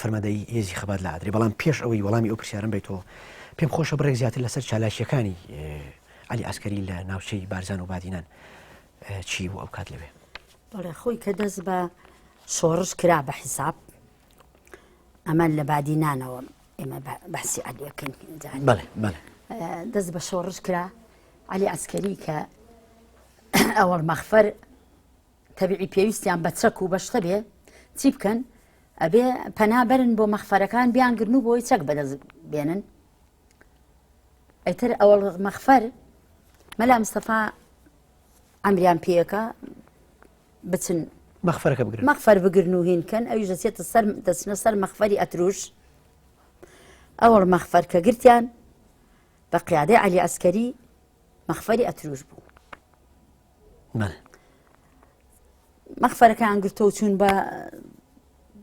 فەرماندەیی هێزی خەبات لە ئادرێ بەڵام پێش ئەوەی وەڵامی ئەو پرسیارم بیتەوە پێم خۆشە بڕێک زیاتر لەسەر چالاکیەکانی علی ئەسکەری لە ناوچەی بارزان و بادینان چی بوو ئەو کات لەوێ بەڵێ خۆی کە دەست بە شۆڕش کرا بە حیساب ئەمە لە بادینانەوە ئێمە باسی علیەکەین دەست بە شۆڕش کرا علی ئەسکەری کە ئەوەڵ مەخفەر تەبعی پێویستیان بە چەک و بەشتە بێ چی بکەن ئەبێ پەنا بەرن بۆ مەخفەرەکان بیان گرن و بۆی چەک بەدەست بێنن ئەیتر ئەوە مەخفەر مەلا مستەفا ئەمریان پێەکە بچن مەخفەرەکە بگرن مەخفەر بگرن و هینکەن ئەویش دەچێتە سەر دەچنە سەر مەخفەری ئەتروش ئەوەڵ مەخفەر کە گرتیان بە قیادەی علی ئەسکەری مەخفەری ئەتروش بوو بەڵێ. مەخفەرەکەیان گرتۆ و چوون بە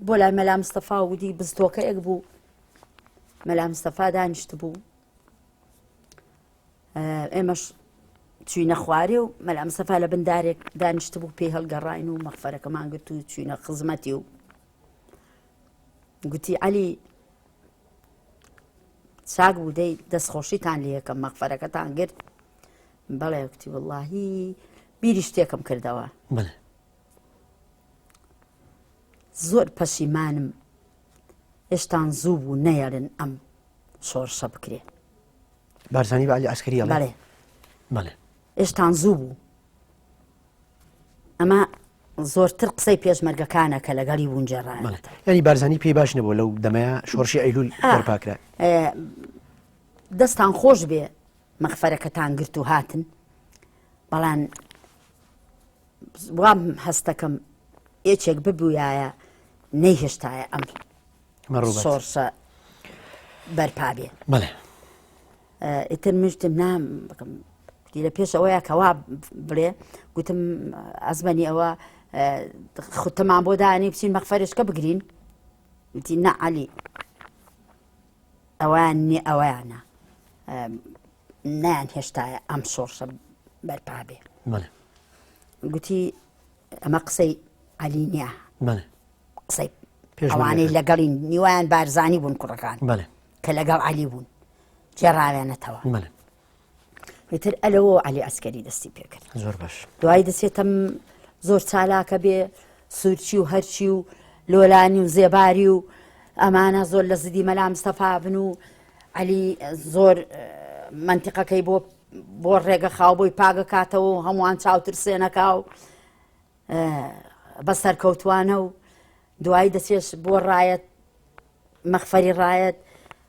بۆ لای مەلا مستەفا و ودی بزتۆکەیەک بوو مەلا مستەفا دانیشت بوو ئێمەش چوینە خوارێ و مەلا مستەفا لە بندارێک دانیشت بوو پێی هەڵگەڕین و مەخفەرەکەمان گرت و چوینە خزمەتی و گوتی علی چاک بوو دەی دەستخۆشیتان لە یەکەم مەخفەرەکەتان گرت بەڵێ وتی وەڵاهی بیری شتێکم کردەوە بەڵێ زۆر پەشیمانم هێشتان زوو بوو نەیەرن ئەم شۆڕشە بکرێ بارزانانی بە علی عسکری بەڵێ بەڵێ ئێشتان زوو بوو ئەمە زۆرتر قسەی پێشمەرگەکانە کە لەگەڵی وونجێڕە ینی بارزانانی پێی باش نەبوو لەو دەمەیە شۆرشی ئەیلول پاکرا دەستان خۆش بێ مەخفەرەکەتان گرت و هاتن بەڵام وام هەستەکەم یەکێک ببووایە نەیهێشتایە ئەم سۆرسە بەرپا بێ بڵێ ئیتر مشتم نام بکەم لە پێش ئەوەیە کەوا بڵێ گوتم ئەزمەنی ئەوە خوتەمان بۆ دانی بچین مەخفەرشکە بگرین وتی نەعالی ئەوان نی ئەویانە نیان هێشتایە ئەم شۆڕشە بەرپا بێ گوتی ئەمە قسەی علی نییە قسەی پێشوانەی لەگەڵی نیوان بارزانی بوون کوڕەکان کە لەگەڵ علی بوون جێڕاوێنەتەوە ئیتر ئەلەوە علی ئەسکەری دەستی پێکرد زۆر باش دوای دەچێتم زۆر چالاکە بێ سوورچی و هەرچی و لۆلانی و زێباری و ئەمانە زۆر لە زدی مەلا مستەفا بن و علی زۆر منتیقەکەی بۆ بۆ ڕێگە خاو بۆی پاگە کاتەوە و هەمووان چاوترسێنەکە و بە سەرکەوتوانە و دوایی دەچێش بۆ ڕایەت مەخفەری ڕایەت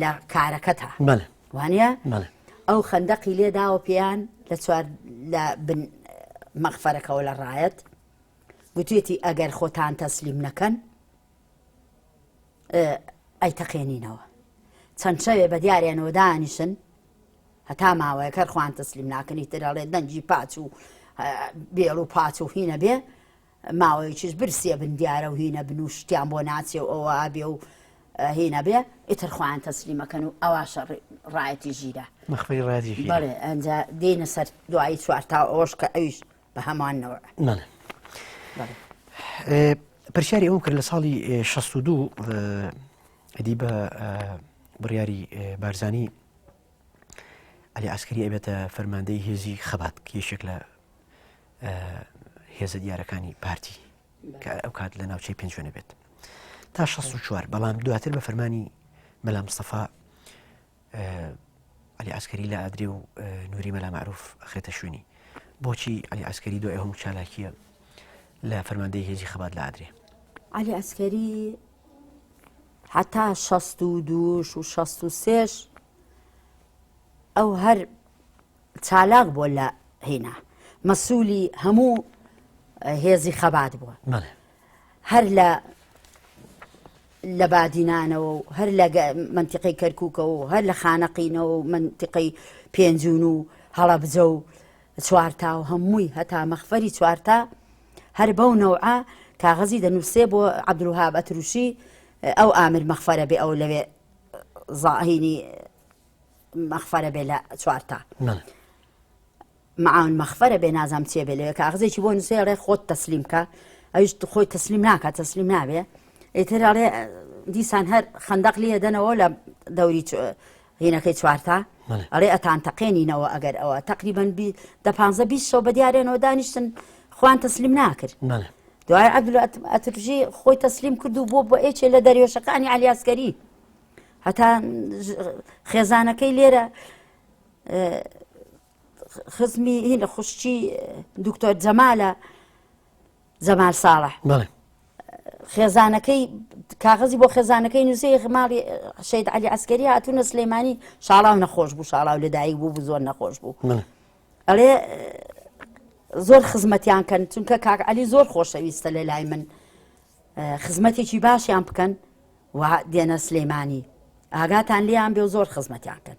لە کارەکەتا وانە ئەو خەندەقی لێ داوە پێیان لە چوار لە بن مەغفەرەکەەوە لە ڕایەت گوتێتی ئەگەر خۆتان تەسلیم نەکەن ئەی تەقێنینەوە چەند شەوێ بە دیارێنەوە دانیشن هەتا ماوەیە کەر خوان تەسلیم ناکەنی ترەڵێ دەنجی پاچ و بێڵ و پاچ و هینە بێ ماوەیەکیش برسی ئەبن دیارەو هی نەبن و شتیان بۆ ناچێ و ئەوە ئەبێ و هی نەبێ ئیتر خۆیان تەسلیم ئەکەن و ئەواشە ڕایەتی ژیرە مەخمەری ڕایەتی ژیرە بەڵێ ئەنجا دێینە سەر دوایی چوار تاو ئەوەش کە ئەویش بە هەمان نەوعە بەڵێ بەڵێ پرسیاری ئەوم کرد لە ساڵی 62 ئەدی بە بڕیاری بارزانی علی عسکری ئەبێتە فەرماندەی هێزی خەبات یەکێک لە هێزە دیارەکانی پارتی کە ئەو کات لە ناوچەی پێنجێنە بێت تا 16 بەڵام دواتر بە فەرمانی مەلا مستەفا علی عسکری لە ئادری و نووری مەلا معروف خێتە شوێنی بۆچی علی عسکری دو ئەهم چالاکیە لە فەرماندەی هێزی خەبات لە ئادرێ علی عسکری هەتا شەست و دووش و شەست و سێش ئەو هەر چالاک بووە لە هینا مەسوولی هەموو هێزی خەبات بووە هەر لە لە بادینانەوە و هەر لە منتیقی کەرکووکەوە و هەر لە خانەقینەوە و منتیقی پێنجون و هەڵەبجە و چوارتا و هەمووی هەتا مەخفەری چوارتا هەر بەو نەوعە کاغەزی دەنووسێ بۆ عەبدولوەهاب ئەترووشی ئەو ئامر مەخفەرە بێ ئەو لەوێ زاهینی مەخفەرە بێ لە چوارتا معاون مەخفەرە بێ نازام چێ بێ لەوێ کاغزێکی بۆ نووسێ ڕێ خۆت تەسلیم کە ئەوش خۆی تەسلیم ناکات تەسلیم نابێ ئیتر ڕێ دیسان هەر خندەق لێ دەنەوە لە دەوری هینەکەی چوارتا ئەڵێ ئەتان تەقێنینەوە ئەگەر ئەوە تەقریبەن دە پانزە بیست شەو بە دیارێنەوە دانیشتن خوان تەسلیم ناکرد دوای عەبدول ئەترژی خۆی تەسلیم کرد و بۆ بۆ ئێچێ لە دەریێشەکانی علیاسکەری هەتا خێزانەکەی لێرە خزمی هینە خوشتی دکتۆر جەمالە جەمال ساڵح بەڵێ خێزانەکەی کاغەزی بۆ خێزانەکەی نووسەی ماڵی شەید علی عسکەری هاتوونە سلێمانی شاڵاو نەخۆش بوو شاڵاو لەدایک بوو بوو زۆر نەخۆش بوو ئەڵێ زۆر خزمەتیان کەن چونکە کاک علی زۆر خۆشەویستە لە لای من خزمەتێکی باشیان بکەن و دێنە سلێمانی ئاگاتان لیان بێ و زۆر خزمەتیان کەن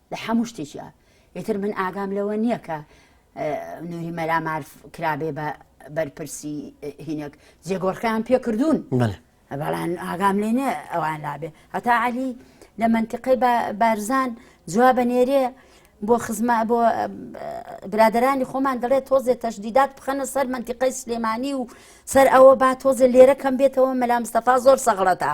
لە هەموو شتێکی ئیتر من ئاگام لەوە نییە کە نوری مەلا مارف کرابێ بە بەرپرسی هینێک جێگۆڕکەیان پێکردوون بەڵان ئاگام لێ نێ ئەوان لابێ هەتا علی لە منتیقەی بارزان جواب نێرێ بۆ خزما بۆ برادرانی خۆمان دەڵێت تۆزێ تەشدیدات بخەنە سەر منتیقەی سلێمانی و سەر ئەوە با تۆزێ لێرە کەم بێتەوە مەلا مستەفا زۆر سەغڵەتە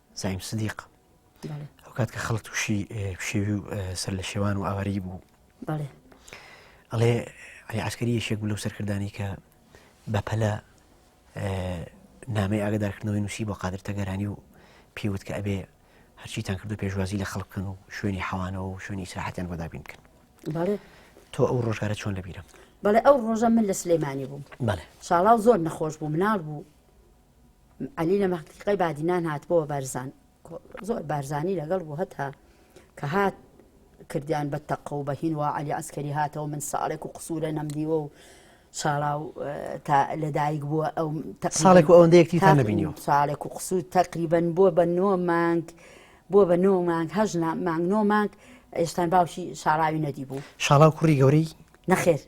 زعیم سدیق ئەو کات کە خەڵک تووشی پشێوی و سەر لە شێوان و ئاواری بوو ئەڵێ علی عسکەری یەشێک بوو لەو سەرکردانی کە بەپەلە نامی ئاگدارکردنەوەی نووسی بۆ قادر تەگەرانی و پێوت کە ئەبێ هەرچیتان کردو پێشوازی لە خەڵک بکەن و شوێنی حەوانەوە و شوێنی سراحەتیان بەدابین بکەن تۆ ئەو ڕۆژگارە چۆن لەبیرم بەڵێ ئەو ڕۆژە من لە سلێمانی بووم ساڵاو زۆر نەخۆش بوو مناڵ بوو عەلی لە مەحقیقەی بادینان هات بۆ بارزان زۆر بارزانی لەگەڵ بوو هەتا کە هات کردیان بە تەقە و بەهین و علی ئەسکەری هاتەوە من ساڵێک و قسوورە نەمدیوە و ساڵاو تا لەدایک بووە ئەو ساڵێک ئەوەندەیەکتی تا نبینیەوە ساڵێک و قسوور تقریبن بووە بە نۆ مانگ بووە بە نۆ مانگ هەژ مانگ نۆ مانگ ئێستان باوشی شاراوی نەدی بوو شاڵاو کوڕی گەورەی نەخێر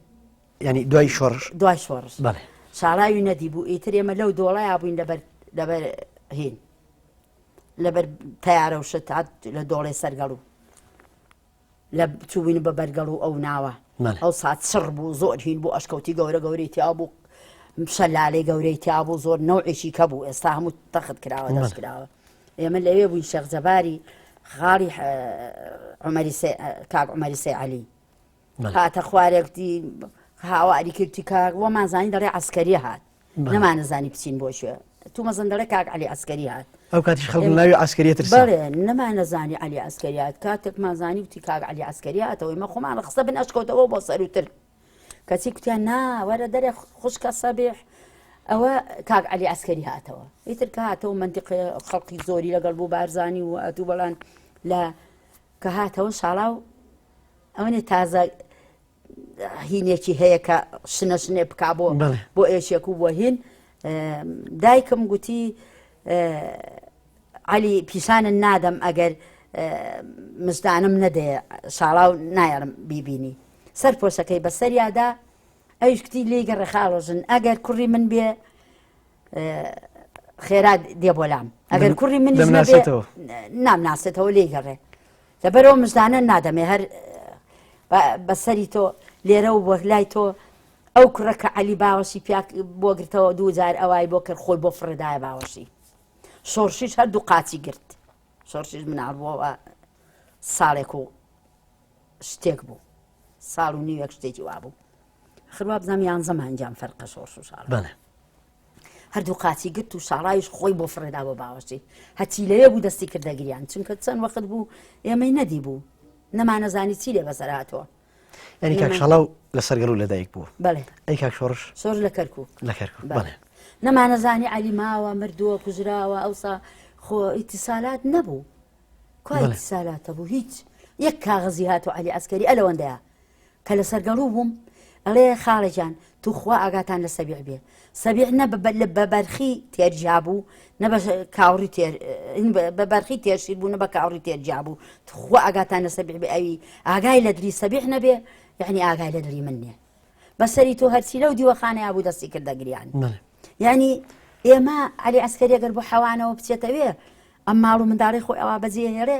یعنی دوای شۆڕش دوای شۆڕش بەڵێ شاڵاوی نەدیبوو ئیتر ئێمە لەو دۆڵەیا بووین لەبەر لەبەر هین لەبەر تیارە و شت هات لە دۆڵێ سەرگەڵ و لە چووین بە بەرگەڵ و ئەو ناوە بەڵێ ئەو سات سڕ بوو زۆر هین بوو ئەشکەوتی گەورە گەورەی تیا بوو شەلالەی گەورەی تیا بوو زۆر نەوعێکی کە بوو ئێستا هەموو تەخت کراوە دەست کراوە ئێمە لەوێ بووین شێخ جەباری خاڵی عمەری سێ- کاک عمەری سێ عەلی هاتە خوارێک دی هاواری کرد چی کاک وەمان زانی دەڵێ عسکەری هات نەمانەزانی بچین بۆ شوێ تو مەزن دەڵێ کاک علی عسکەری هات ئەو کاتیش خەڵک ناوی عسکەریە تر بەڵێ نەمانەزانی علی عسکەریات کاتێک مازانی وتی کاک علی عسکەری هاتەوەی مە خۆمان لە خستە بن ئەشکەوتەوە بۆ سەروتر کەچی کوتیان ناوەرە دەرێ خوشکە سەبیح ئەوە کاک علی عسکەری هاتەوە ئیتر کە هاتەوە منتیقی خەڵکی زۆری لەگەڵ بوو بارزانی و ئەتوو بەڵان لە کە هاتەوە شاڵاو ئەوەنێ تازە هینێکی هەیە کە شنە شنێ بکا بۆ بۆ ئێشێک و بۆ هین دایکم گوتی علی پیشانە نادەم ئەگەر مزدانم نەدێ شاڵاو نایەڵم بیبینی سەر پۆشەکەی بەسەریادا ئەوش کتی لێگە ڕێخاڵۆژن ئەگەر کوڕی من بێ خێرا دێ بۆلام ئەگەر کوڕی من نامناسێتەوە لێگەڕێ لەبەرئەوە مژدانە نادەمێ هەر بە سەری تۆ لێرە و بۆ لای تۆ ئەو کوڕە کە عەلی باوەشی پیا بۆ گرتەوە دوو جار ئەوای بۆ کرد خۆی بۆ فڕێدایە باوەشی شۆڕشیش هەردوو قاچی گرت شۆڕشیش مناڵ بووەوە ساڵێک و شتێک بوو ساڵ و نیوێک شتێکی وابوو ئاخر وابزانم یانزە مانگیان فەرقە شۆڕش و شاڕ. بەڵێ. هەردوو قاچی گرت و شاڕاویش خۆی بۆ فڕێدا بۆ باوەشی هەچی لەوێ بوو دەستی کردە گریان چونکە چەند وەخت بوو ئێمەی نەدی بوو نەمانەزانی چی لێ بەسەر هاتووە یعنی کاک شەڵاو لەسەر گەڵ و لەدایک بوو بەڵێ ئەی کاک شۆڕش شۆر لە کەرکوو لە کەرکوو بەڵێ نەمانەزانی علی ماوە مردووە کوژراوە ئەوسا خۆ ئیتیسالات نەبوو کوای سالاتە بوو هیچ یەک کاغزی هات و علی ئەسکەری ئەلەوەندەیە کە لە سەرگەڕوو بووم ئەڵێ خاڵە جان توخوا ئاگاتان لە سەبیع بێ سەبیع نە بە بەرخی تێر جیابوو نە بە کاوڕی تێر بە بەرخی تێرشیر بوو نە بە کاوڕی تێر جیابوو توخوا ئاگاتان لە سەبیع بێ ئەوی ئاگای لە دلی سەبیع نەبێ یعنی ئاگای لە دلی من نیە بەسەری تۆ هەرچی لەو دیوەخانەیە بوو دەستی کردە گریان یعنی ئێمە علی عسکەری گەر بۆ حەوانەوە بچێتەوێ ئەم ماڵ و منداڵی خۆی ئەوا بەجێ هێڵێ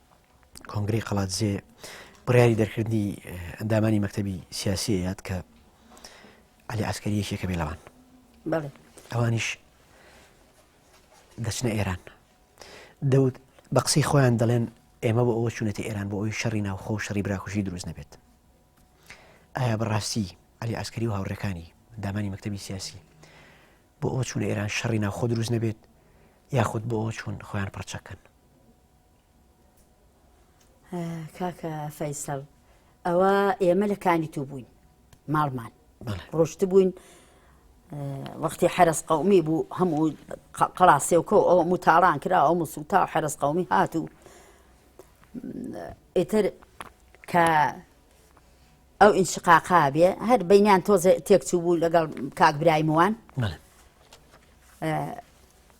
کۆنگری قەڵاتزێ بڕیاری دەرکردی ئەندامانی مەکتتەبی سیاسی یاد کە علی عسکەری یەکێکە بێ لەوان ئەوانیش دەچنە ئێران دەوت بە قسەی خۆیان دەڵێن ئێمە بۆ ئەوە چونەتی ئێران بۆ ئەوی شەڕی ناوخۆ و شەڕی براکوژی دروست نەبێت ئایا بەڕاستی علی عسکەری و هاوڕەکانی دامانی مەکتتەبی سیاسی بۆ ئەوە چونە ئێران شەڕی ناوخۆ دروست نەبێت یاخود بۆ ئەوە چون خۆیان پڕچەکەن کاکە فەیسەڵ ئەوە ئێمە لە کانی تو بووین ماڵمان ڕۆشت بووین وەختی حرس قومی بوو هەموو قەڵاسێوکە و ئەو متاڵان کرا ئەو مسوتا و حرس قومی هات و ئیتر کە ئەو ئینشقاقا بێ هەر بینیان تۆزە تێکچوو بوو لەگەڵ کاک برایموان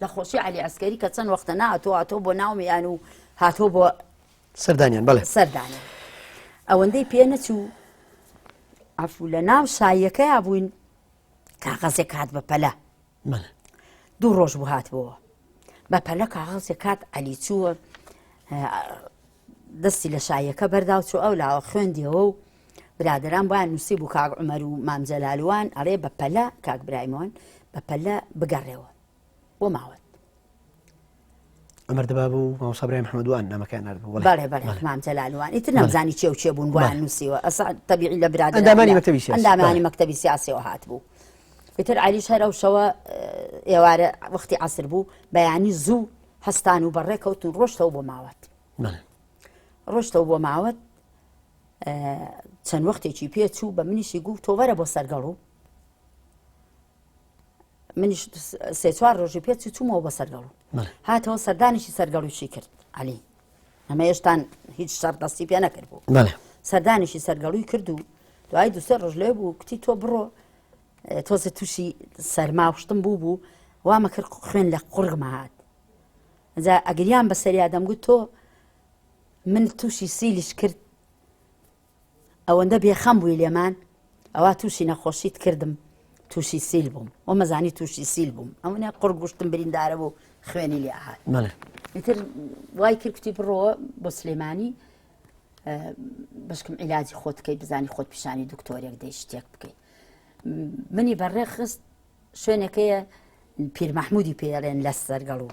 لە خۆشی عەلی عەسکەری کە چەند وەختە ناتۆ هاتۆ بۆ ناومیان و هاتۆ بۆ سەردانیان بەڵێ سەردانە ئەوەندەی پێ نەچوو ئەفو لە ناو شایەکەیا بووین کاغەزێک هات بە پەلە دوو ڕۆژ بوو هاتبەوە بە پەلە کاغەزێک کات عەلی چووە دەستی لە شاییەکە بەردا و چوو ئەو لاوە خوێندیەوە و برادەران بۆیان نووسی بوو کاک عومەر و مام جەلالوان ئەڵێ بە پەلە کاک برایمۆن بە پەلە بگەڕێەوە بۆ ماوەت ئەمەر دەبا بوو ماوسابرای محمدوان نامەکان نردبوو بەڵێ بەڵێ مام جەلالوان ئیتر نەمزانی چێ و چێ بوون بۆیان نووسیوە ئەس تەبیعی لە برادر ئەندامانی مەکتەبی سیاسی ئەندامانی مەکتەبی سیاسیەوە هات بوو ئیتر علیش هەر ئەو شەوە ئێوارە وەختی عسر بوو بەیانی زوو هەستان و بەڕێکەوتن ڕۆشتەوە بۆ ماوەت ڕۆشتەوە بۆ ماوەت چەند وەختێکی پێ چوو بە منیشی گوو تۆوەرە بۆ سەرگەڵ و منیش سێ چوار ڕۆژی پێ چوومەوە بە سەرگەڵ و هاتەوە سەردانیشی سەرگەڵوشی کرد علی ئەمە هێشتان هیچ شەر دەستی پێ نەکرد بوو سەردانیشی سەرگەڵوی کرد و دوای دوسێ ڕژلێ بوو کتی تۆ بڕۆ تۆزێ تووشی سەرما و شتم بوو بوو وامە کرد خوێن لە قوڕگمە هات جا ئەگریان بە سەریا دەمگوت تۆ من تووشی سیلیش کرد ئەوەندە بێخەم بووی لێمان ئەوە تووشی نەخۆشیت کردم تووشی سیل بووم و مەزانی تووشی سیل بووم ئەوە قڕ گوشتم بریندارە بوو خوێنی لێ هاات ئیتر وای کرد کوتی بڕۆوە بۆ سلێمانی بەشکم عیلاجی خۆت بکەیت بزانی خۆت پیشانی دکتۆرێک دەی شتێک بکەیت منی بەڕێخست شوێنەکەیە پیرمەحمودی پێڵێن لە سەرگەڵ و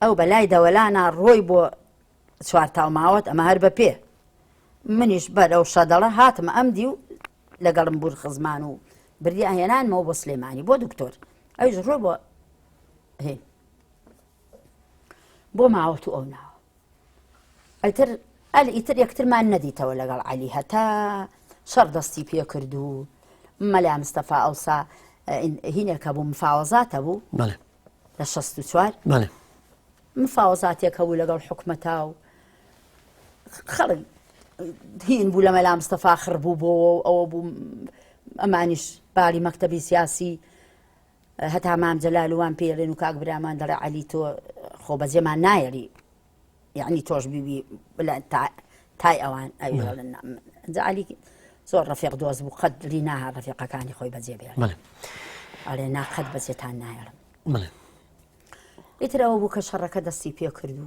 ئەو بەلای دەوەلانا ڕۆی بۆ چوارتاو ماوەت ئەمە هەر بە پێ منیش بەرەو شەدەڵە هاتمە ئەم دی و لەگەڵم بور خزمان و بردی ئاهێنانمەوە بۆ سلێمانی بۆ دکتۆر ئەوش ڕۆ بۆ بۆ ماوەت و ئەو ناوە ئیتر ئەل ئیتر یەکترمان نەدیتەوە لەگەڵ عەلی هەتا شەڕ دەستی پێ کرد و مەلا مستەفا ئەوسا هینێکە بوو مفاوەزاتە بوو لە 16 چوار مفاوەزاتێکە بوو لەگەڵ حکومەتا و خەڵک هین بوو لە مەلا مستەفا خڕ بوو بۆەوە ئەوە بوو ئەمانیش باری مەکتتەبی سیاسی هەتا مام جەلال و وان پێی ئەلێن و کاک برامان دەڵێ عەلی تۆ خۆ بەجێمان نایەری یعنی تۆش بیبی بلا تا تای ئەوان ئەوی نعم. دەڵێن نعم. جا عەلی زۆر ڕەفیق دۆست بوو قەت لی ناها ڕەفیقەکانی خۆی بەجێ بێ بەڵێ ئەڵێ نا قەت بەجێتان نایەڵم بڵێ ئیترەوە بوو کە شەڕەکە دەستی پێ کردو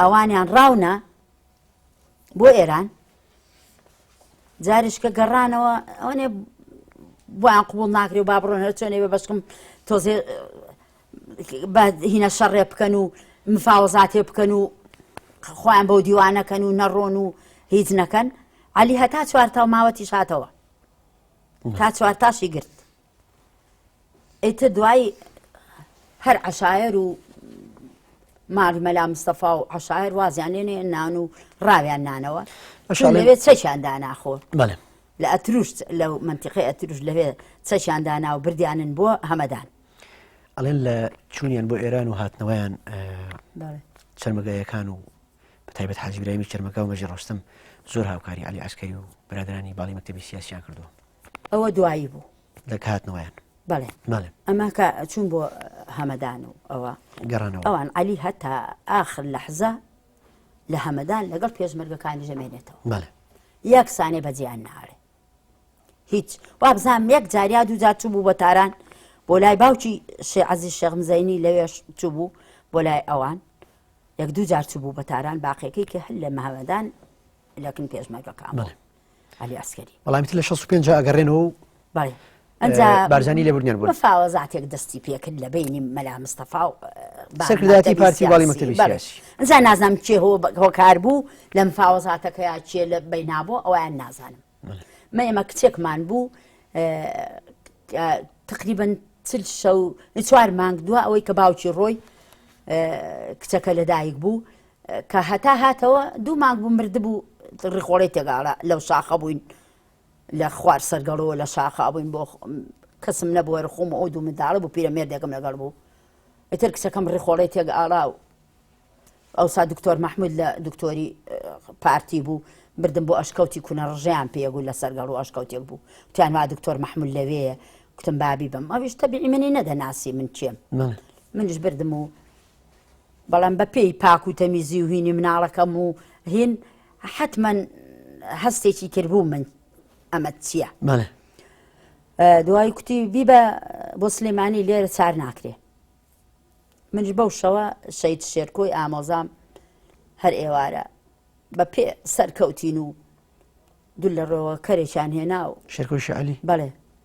ئەوانیان ڕاونا بۆ ئێران جاریشکە گەڕانەوە ئەوێ بۆیان قوبول ناکرێ و با بڕۆن هەر چۆنێ بە بەشکم تۆزێ بە هینە شەڕێ بکەن و مفاوەزاتێ بکەن و خۆیان بەو دیوانەکەن و نەڕۆن و هیچ نەکەن علی هەتا چوارتاو ماوەتیش هاتەوە تا چوارتاشی گرت ئیتر دوای هەر عەشایەر و مار مەلا مستەفا و عەشایەر وازیان لێنێ نان و ڕاویان نانەوە لەوێ چەکیان داناخۆ لە ئەتروش لە منتیقی ئەتروش لەوێ چەکیان دانا و بردیانن بۆ هەمەدان ئەڵێن لە چوونیان بۆ ئێران و هاتنەوەیان چرمەگایەکان و بە تایبەت حاجیبرامی چرمەکە و مەژی ڕۆستم زۆر هاوکاری علی عسکەری و برادرانی باڵی مەکتتەبی سیاسیان کردو ئەوە دوایی بوو لە هاتنەوەیان بەڵێ بەڵێ ئەمە کە چوون بۆ هەمەدان و ئەوە گەڕانەوە ئەوان علی هەتا ئاخر لەحزە لە هەمەدان لەگەڵ پێشمەرگەکانی ژەمێنێتەوە بەڵێ یەک سانێ بەجیان ناڵێ هیچ وابزان یەک جاریا دوو جار چوو بوو بە تاران بۆ لای باوکی شێعزی شەغمزەینی لەوێش چوو بوو بۆ لای ئەوان یەک دوو جار چوو بوو بە تاران باقیەکەی کە هەر لە مەهەمەدان لەکن پێشمەرگەکان بەڵێ علی عسکری بەڵامیت لە 65 جا ئەگەڕێنەوە و بای بارزانانی لەبرنیان بوو فاوە زاتێک دەستی پێکرد لە بینی مەلا مستەفا و سەرکرداتی پارتی باڵی مەکتبی ئەجا نازنام کێ هۆکار بوو لەم فاوەزاتەکەیا کێ لە بینابوو ئەویان نازانم مە ئێمە کچێکمان بوو تقریبن چل شەو چوار مانگ دووە ئەوەی کە باوکی ڕۆی کچەکە لەدایک بوو کە هەتا هاتەوە دوو مانگ بوو مردبوو ڕیخۆڵەی تێگاڵە لەو شاخە بووین لە خوار سەرگەڵەوە لە شاخە بووین بۆ کەسم نەبوو هەرخۆم ئەو دوو منداڵە بوو پیرە مێردێکم لەگەڵ بوو ئیتر کچەکەم ڕیخۆڵەی تێک ئاڵا و ئەوسا دکتۆر مححمود لە دکتۆری پارتی بوو بردم بۆ ئەشکەوتی کونە ڕژیان پێگو لە سەرگەڵ و ئەشکەوتێک بوو تیانوا دکتۆر مححمل لەوەیە کوتم بابی بم ئەویش تەبیی منی نەدەناسی من چێم منش بردم و بەڵام بە پێی پاک و تەمیزی و هینی مناڵەکەم و هین حەتمەن هەستێکی تر بوو من ئەمەت چییە بەڵێ دوای کوتی بیبە بۆ سلێمانی لێرە چار ناکرێ منش بەو شەوە شەید شێرکۆی ئامۆزام هەر ئێوارە بە پێ سەرکەوتین و دوو لە ڕۆوە کەرێکیان هێنا و شێرکۆی شعلی بەڵێ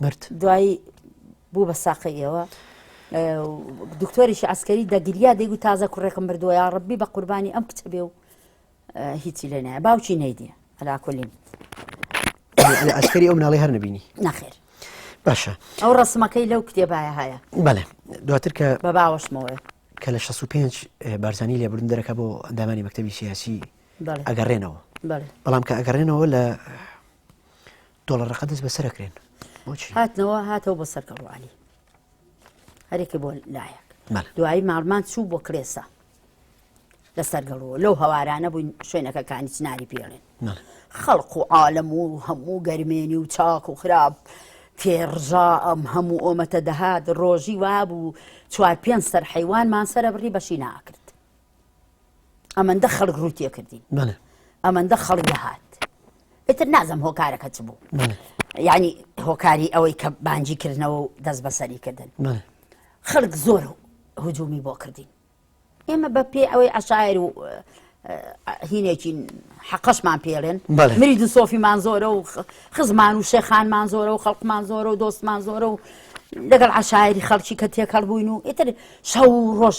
برد. دوایی بوو بە ساقەی ئێوە دکتۆریشی عسکەری دەگریا دەیگو تازە کوڕێکم بردووە یا ڕبی بە قوربانی ئەم کچە بێ و هیچی لێ نایە باوکی نەیدیە ئەلاکۆلیم ئەسکەری ئەو مناڵی هەر نبینی ناخێر باشە ئەو ڕسمەکەی لەو کتێبایە هەیە بەڵێ دواتر کە بە باوەشمەوە کە لە 65 بارزانانی لێبرن دەرەکە بۆ ئەندامانی مەکتتەبی سیاسی ئەگەڕێنەوە بەڵام کە ئەگەڕێنەوە لە دۆڵە ڕقە دەست بەسەرەکرێن هاتنەوە هاتەوە بۆ سەر گەڵوانی هەرێکی بۆ لایەک دوایی ماڵمان چوو بۆ کرێسا لەسەر گەڵەوە لەو هەوارانە بووین شوێنەکە کانی چناری پێڵێن خەڵق و عالم و هەموو گەرمێنی و چاک و خراپ تێڕژا ئەم هەموو ئۆمەتە دەهات ڕۆژی وابوو چوار پێنج سەر حیوانمان سرە بڕی بەشی ناکرد ئەمەندە خەڵک ڕووی تێکردین ئەمەندە خەڵک دەهات ئتر نازم هۆکارەکە چ بوو ینی هۆکاری ئەوەی کە بانجی کردنەوە و دەست بەسەری کردن خەڵک زۆر هجومی بۆ کردین ئێمە بە پێ ئەوەی عشایر و هینێکین حەقەشمان پێڵێن مری دو سۆفیمان زۆرە و خزمان و شێخانمان زۆرە و خەڵکمان زۆرە و دۆستمان زۆرە و لەگەڵ عشاعری خەڵکی کە تێکەڵ بووین و ئیتر شەو و ڕۆژ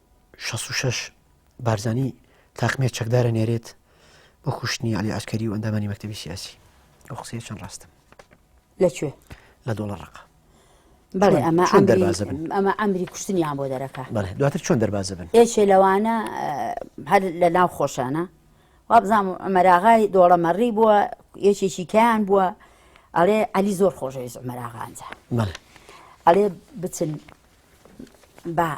66 بارزانی تاقمێ چەکدارە نێرێت بۆ خوشتنی علی عسکەری و ئەندامانی مەکتتەبی سیاسی ئەو قسەیە چەند ڕاستم لەکوێ لە دۆڵە ڕقە بەڵێ ئەمە چۆن دەربازە بن ئەمە ئەمری کوشتنیان بۆ دەرەکە بەڵێ دواتر چۆن دەربازە بن ئێشێ لەوانە هەر لە ناو خۆشانە وابزانام ئەمەراغای دۆڵەمەڕی بووە یەکێکی کیان بووە ئەڵێ ئەلی زۆر خۆشەویست ئەمەراغانجا ئەڵێ بچن با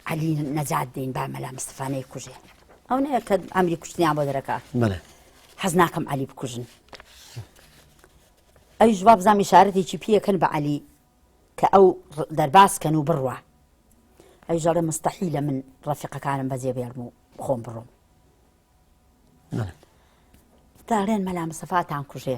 عەلی نەجات دین با مەلا مستەفا نەیکوژێ ئەو نەیە کە ئەمری کوشتنیان بۆ دەرەکە بەڵێ حەز ناکەم عەلی بکوژن ئەوی جواب زامی شارەتێکی پێکەن بە عەلی کە ئەو دەرباز کەن و بڕوە ئەوی ژەڵێ مستەحی لە من ڕەفیقەکانم بەجێ بێڵم و خۆم بڕۆم داڵێن مەلا مسەفاتان کوژێ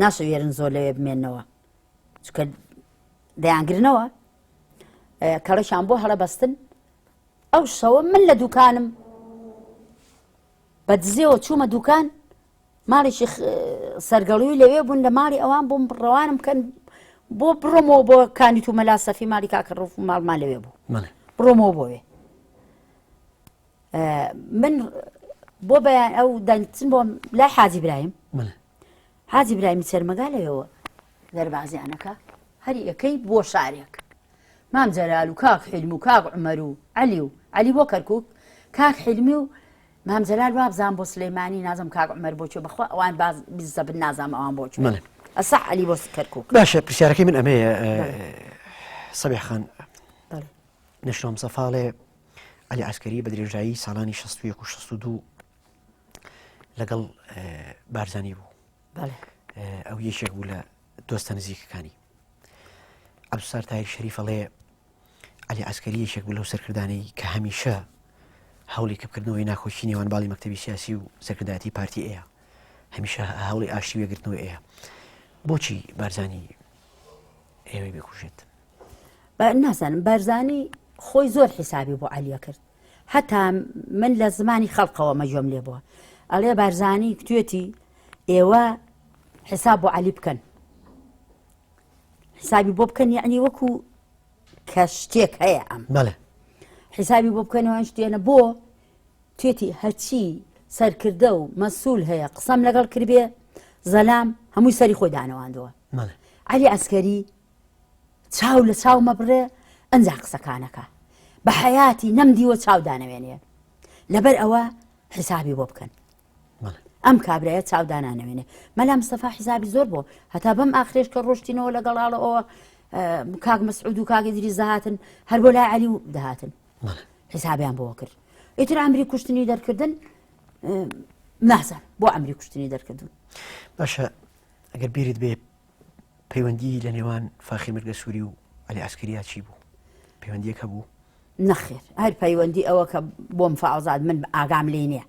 ناشەوێرن زۆر لەوێ بمێنەوە چکە دەیانگرنەوە کەڵەشان بۆ هەڵە بەستن ئەو شەوە من لە دوکانم بە دزێەوە چوومە دوکان ماڵێکی سەرگەڵوی لەوێ بوون لە ماڵی ئەوان بۆم ڕەوانم بکەن بۆ بڕۆمەوە بۆ کانی تو مەلا سەفی مالی کاکە ڕوف ماڵمان لەوێ بوو بڕۆمەوە بۆێ من بۆ بەیان ئەو دەنگچن بۆم لای حاجی برایم حاجی برایمی چەرمەگالەوەەوە دەربازیانەکە هەری یەکەی بۆ شارێک مام جەلال و کاک حلم و کاک عمەر و علی و علی بۆ کەرکک کاک حلمی و مام جەلال وابزان بۆ سلەیمانی نازم کاک عمەر بۆچێ بخوا ئەوان باز بزە بن نازام ئەوان بۆچ ئەسا علی بۆ کەرکک باشە پرسیارەکەی من ئەمەیە سەبێخان نشتۆم سەفاڵێ عەلی عەسکەری بە درێژایی ساڵانی 16 و 62 لەگەڵ بارزانانی بوو ئەو یەکێک بوو لە دۆستە نزیکەکانی ئەبسار تایر شەریفەڵێ علی عسکەری یەکێک بوو لەو سەرکردانی کە هەمیشە هەوڵی کەبکردنەوەی ناخۆشی نێوان باڵی مەکتتەبی سیاسی و سەرکردایەتی پارتی ئەیە هەمیشە هەوڵی ئاشتی وێگرتنەوە ئەیە بۆچی بارزانانی ئێوەی بکوژێت نازانم بارزانی خۆی زۆر حیسابی بۆ عەلیە کرد هەتا من لە زمانی خەڵقەوە مەجۆم لێ بووە ئەڵێ بارزانی کوێتی ئێوە حساب بۆ عەلی بکەن حسابی بۆ بکەن یعنی وەکو کە شتێک هەیە ئەم بەڵێ حسابی بۆ بکەنەوە شتێنە بۆ توێتی هەچی سەرکردە و مەسول هەیە قسەم لەگەڵ کردێ زەلام هەمووی سەری خۆی دانەواندەوە علی ئەسکەری چاو لە چاو مەبڕێ ئەنجا قسەکانەکە بە حەیاتی نەم دیوە چاو دانەوێنێ لەبەر ئەوە حیسابی بۆ بکەن ئەم کابراە چاودانانەوێنێ مەلا مستەفا حیزابی زۆر بۆ هەتا بەم ئاخرێش کە ڕۆشتینەوە لەگەڵاڵە ئەوە کاک مەسعود و کاگە دری زەهاتن هەر بۆ لا علی و دەهاتن حیسابیان بۆ کرد ئیتر ئەمری کوشتنی دەرکردن نازان بۆ ئەمری کوشتنی دەرکردن باشە ئەگەر بیرت بێ پەیوەندی لە نێوان فاخیر مرگە سوری و علی عسکریا چی بوو؟ پەیوەندیەک هەبوو؟ نەخێر هەر پەیوەندی ئەوە کە بۆم فازات من ئاگام لێ نییە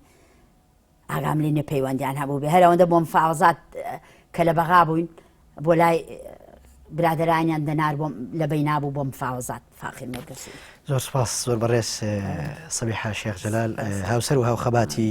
ئاگام لێ نیە پەیوەندیان هەبوو بێ هەرەوەندە بۆم فازات کە لە بەغا بووین بۆ لای برادرانیان دەنار بۆم لە بەی نابوو بۆم فاوزات فاخی مەرگسی زۆر سپاس زۆر بەڕێز سەبی حاشێخ جەلال هاوسەر و هاوخەباتی